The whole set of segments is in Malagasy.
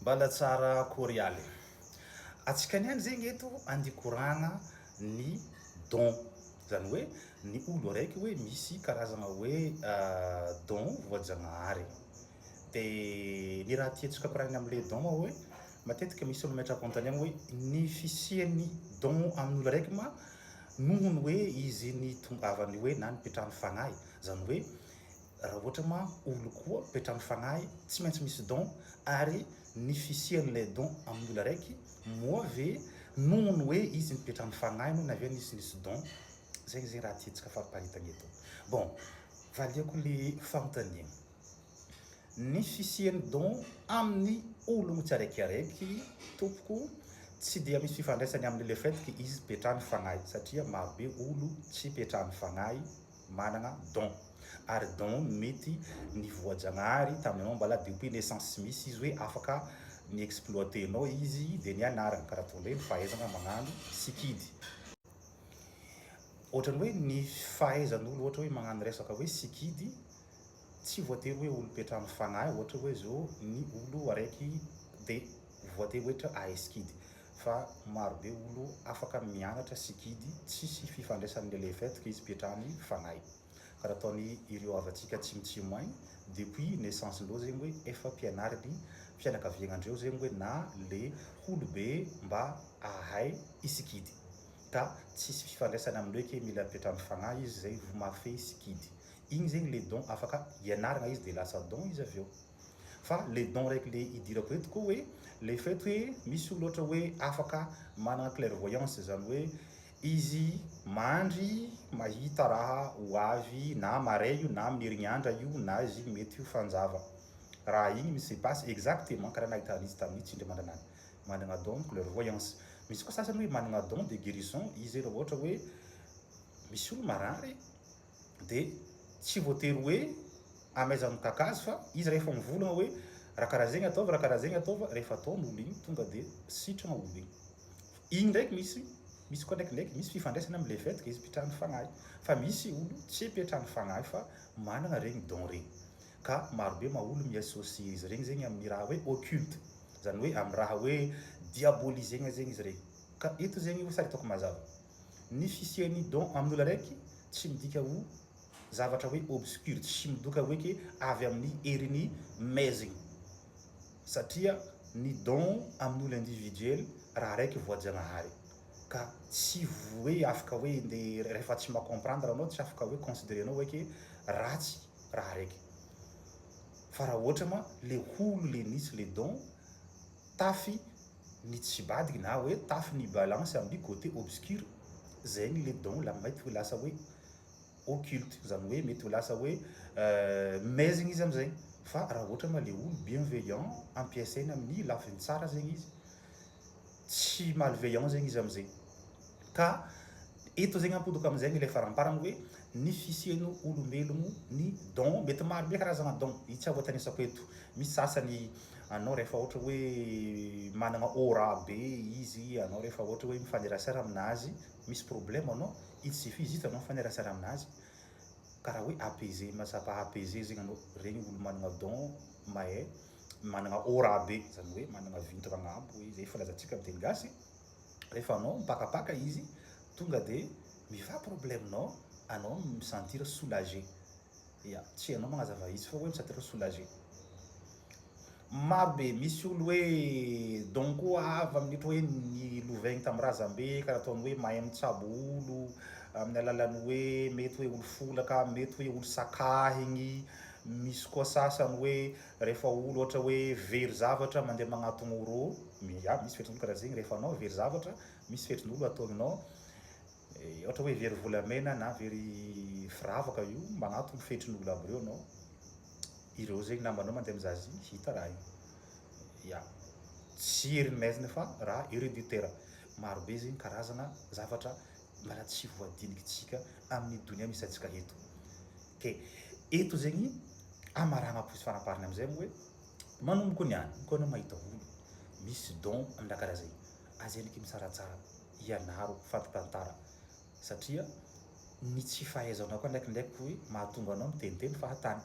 Mbala tsara akory aly. Antsika niany zegny eto andikorana ny don zany hoe ny olo araiky hoe misy karazagna hoe don voajagnahary de ny raha tiantsika koragny amle don oa hoe matetika misy olo metrakontaniagna hoe ny fisiany don aminy olo araiky ma nohony hoe izy nitongavany hoe na nipetrahany fagnahy zany hoe raha ohatra ma olo koa toetra am fanahy tsy maintsy misy don ary ny fisian ilay don amin olo araiky moa ve nohon hoe izy mitoetra am fanahy no naviany izy nisy don zegny zegny raha tiantsika fariparitana eto bon valiako le fanontaniana ny fisian don aminy ologno tsy araiky araiky tompoko tsy dia misy fifandraisany aminy le fait que izy petrany fanahy satria maro be olo tsy petrany fanahy managna don ary don mety ny voajagnahary tamin'ny anao mbola de ompiana essence tsy misy izy hoe afaka ni exploiter anao izy de ny anarana karaha toy indray ny fahaizagna magnano sikidy ohatrany hoe ny fahaizan'olo ohatra hoe magnano resaka hoe sikidy tsy voatery hoe olom-petra amin'ny fanahy ohatra hoe zao ny olo araiky de voatery hoe tra ahay sikidy fa maro be olo afaka mianatra sikidy tsisy fifandraisany le le fait que izy petrany fanahy ka raha ataony ireo havantsika tsimotsimo any depuis naissance ndreo zegny hoe efa pianariny fianakaviagna ndreo zegny hoe na le holo be mba ahay i sikidy ka tsisy fifandraisany amindreo eke mila petra amin'ny fanahy izy zay vao mahafehy sikidy Igny zegny le don afaka ianaragna izy de lasa don izy avy eo. Fa le don raiky le idirako eto koa hoe le fait hoe misy olo ohatra hoe afaka managna clairvoyance zany hoe izy mandry mahita raha ho avy na marais io na amin'ny herignandra io na izy mety ho fanjava raha igny mi se passe exactement karaha nahita an'izy tamin'ny tsindry mandranany managna don clairvoyance. Misy koa sasany hoe managna don de guerison izy raha ohatra hoe misy olo marary Dia tsy voatery hoe amaiza mitaka azy fa izy rehefa mivolagna hoe ra karaha zegny ataovy ra karaha zegny ataovy rehefa ataony olo igny tonga dia sitragna olo igny igny ndraiky misy misy koa ndraiky ndraiky misy fifandraisany am le fait que izy mpitrano fagnahy fa misy olo tsy mpiatrano fagnahy fa managna regny don regny ka maro be ma olo mi associer izy regny zegny aminy raha hoe occulte zany hoe amy raha hoe diabolisegna zegny izy regny ka eto zegny sary ataoko mazava. Ny fisian'ny don amin'olona araiky tsy midika ho zavatra hoe obscure, tsy midoka hoe ke avy amin'ny herin'i Mezigny, satria ny don amin'olo individuel raha araiky voajanahary ka tsy hoe afaka hoe nde rehefa tsy ma comprendre anao tsy afaka hoe considerer anao hoe ke ratsy raha araiky fa raha ohatra ma le holo le nisy le don tafy ny tsy badgy na hoe tafy ny balance amin'ny côté obscur zegny le don la mety ho lasa hoe occulte zany hoe mety ho lasa hoe maizigny izy amizay fa raha ohatra ma le olo bienveillant ampiasaina amin'ny lafiny tsara zegny izy tsy malveillant zegny izy amizay Ka eto zegny ampodoka amizegny ilay faramparany hoe ny fisiany olombelogno ny don mety maro be karazagna don i tsy avoatanisako eto misy sasany anao rehefa ohatra hoe managna aura be izy anao rehefa ohatra hoe mifanerasera aminazy misy problema anao il suffit juste anao mifanerasera aminazy karaha hoe apaiser mahatsapa apaiser zegny anao regny olo managna don mahay managna aura be zany hoe managna vintagna agnambo hoe zay filazantsika am teny gasy Rehefa anao mipakapaka izy tonga de mifa problème nao anao no mi sentir soulagé. Ya, tsy anao magnazava izy fa oe mi sentir soulagé. Maro be, misy olo hoe donc avy amin'ny ohatra hoe ny lovainy tamin'ny razambe ka nataony hoe mahay mitsabo olo amin'ny alalan'ny hoe mety hoe olo folaka, mety hoe olo sakahigny, misy koa sasany hoe Rehefa olo ohatra hoe very zavatra mandeha magnatogno oro miady misy fetrin'olo karaha zegny rehefa anao very zavatra misy fetrin'olo ataonao ohatra hoe very volamena na very firavaka io magnatogno fetrin'olo aby reo anao ireo zegny namanao mandeha mizaha azy igny hita raha io ya tsy ery maizina fa raha hereditaire maro be zegny karazagna zavatra mbola tsy voadiniky tsika amin'ny donia misy antsika eto Dia eto zegny amaragna plus faraparany amizay moa hoe manomboko niany ko anao mahita olo misy don am raha karaha zay aza enaky misaratsara ianaro fampitantara satria ny tsy fahaizanao koa ndraikindraiky ko mahatonga anao miteniteny fahatany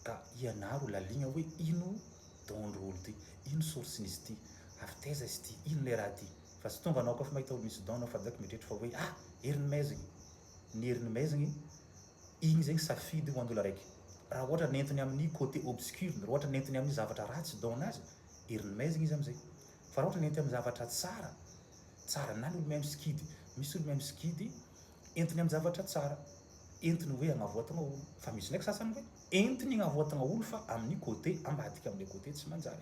ka ianaro laligna hoe ino don ndry olo ty ino source nizy ty avy taiza izy ty ino le raha ty fa tsy tonga anao ko fa mahita olo misy don anao fa direct mieritreritra fa hoe ah heriny maizigny ny herin'ny maizigny, igny zegny safidy ho an'olo araiky. Raha ohatra nentiny amin'ny côté obscur-ny, raha ohatra nentiny amin'ny zavatra ratsy don azy, herin'ny maizigny izy am'zay. Fa raha ohatra nentiny amin'ny zavatra tsara, tsara, na ny olo mihaino sikidy, misy olo mihaino sikidy entiny amin'ny zavatra tsara, entiny hoe hagnavoatagna olo. Fa misy ndraiky sasany hoe entiny hagnavoatagna olo fa amin'ny côté ambadika, amin'ny côté tsy manjary.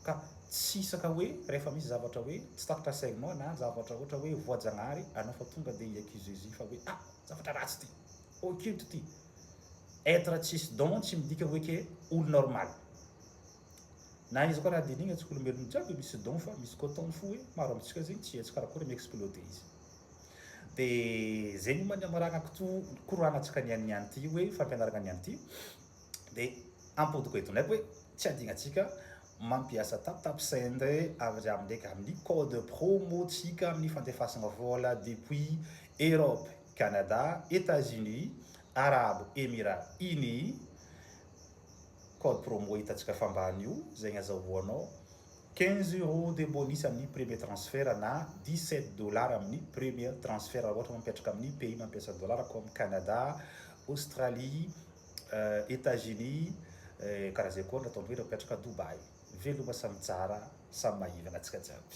ka tsy hisaka hoe rehefa misy zavatra hoe tsy tatitra segment na zavatra ohatra hoe voajagnahary anao fa tonga dia hi accuser izy fa hoe ah zavatra ratsy ity, occulte ity. Être tsisy don tsy midika hoe ke olo normal. Na iza koa raha dinigna tsy olombelogno jiaby misy don fa misy koa ton fo hoe maro amintsika zegny tsy hetsy karakory mi exploder izy. De zegny ma ny amaragnako to koroagna antsika niany niany ty hoe fampianaragna niany ty. Dia ampodiko eto ndraiky hoe tsy adinantsika mampiasa taptapsend avy amindraiky amin'ny code promo tsika amin'ny fandefasana vola depuis Europe, Canada, Etats Unis, Arabo Emirats Unis, code promo hitantsika fa ambany io izay ny azahoanao 15 euros de bonus amin'ny premier transfert na 17 dollars amin'ny premier transfert raha ohatra mampiatraka amin'ny pays mampiasa dollars comme Canada, Australie, Etats-Unis, karaha zay koa ny ataon'ireo mpiatrika Dubaï. Veloma samy tsara samy mahivana antsika jiaby.